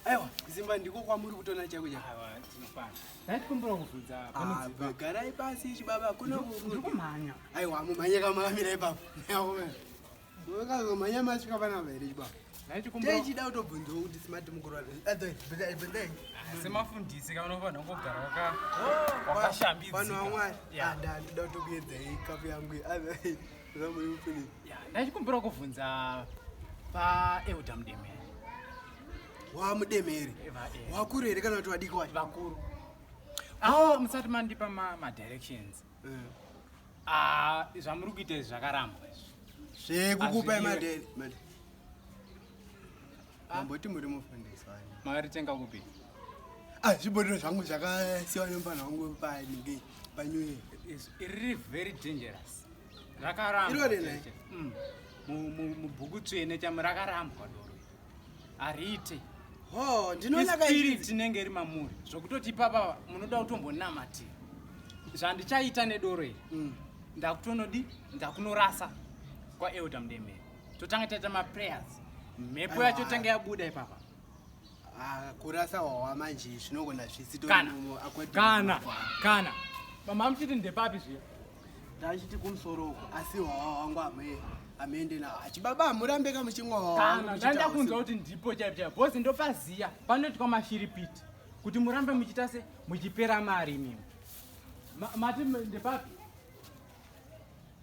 aiwa zimba ndiko kwamuri kutona chako chagarai eh? ah, pasi chibaba kunokumhanya aiwa mumhanye kamamira ipapo kamhanya masvika panapa here chibaba taichida kutobvunzawo kuti smart mukuru wasemafundisi ka unofanira kugara wakashambidzika vanhu vamwari andandoda kutokuedzai kapu yangu ndachikumbira kuvhunza paeuda mudemere wamudemere wakuru here kana kuti vadiki wacho vakuru awo musati mandipa madirections eh. ah, zvamuri kuita izvi zvakarambwa izvi zvekukupa madere Mamboti muri mufundisi wani? Mari tenga kupi? Ah, zvibhodhiro zvangu zvakasiwa nemupana wangu panike panyuye. Iri very dangerous. Rakaramba. Iro rene. Mm. Mubhuku tsvene chamu rakarambwa doro. Arite. Oh, ndinoona kai. Spirit tinenge iri mamuri. Zvokutoti papa munoda kutombonamatira. Zvandichaita nedoro iri. Mm. Ndakutonodi, ndakunorasa kwa Elder Mdemere. Totanga taita ma prayers. Mhepo yacho tanga yabuda ipapa. Ah, kurasa wawa manje zvinogona zvisi kana kana kana mama amuchiti ndepapi zviya ndachiti kumusoro uko asi wawa wangu amee amende na achibaba hamurambe ka muchimwaana ndaida kunzwa kuti ndipo chaipo chaipo bhozi ndopaziya panoitwa mashiripiti kuti murambe muchiita se muchipera mari imimi mati ndepapi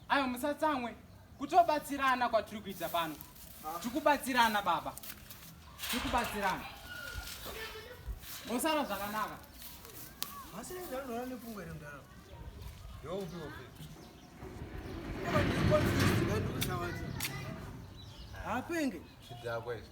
Ayo musatsamwe kutobatsirana kwatiri kuita pano. Tikubatsirana baba. Tikubatsirana. Mosara zvakanaka. Masira ndaro ndaro nepungwe remdaro. Yo upi upi. Hapenge. Chidakwa ichi.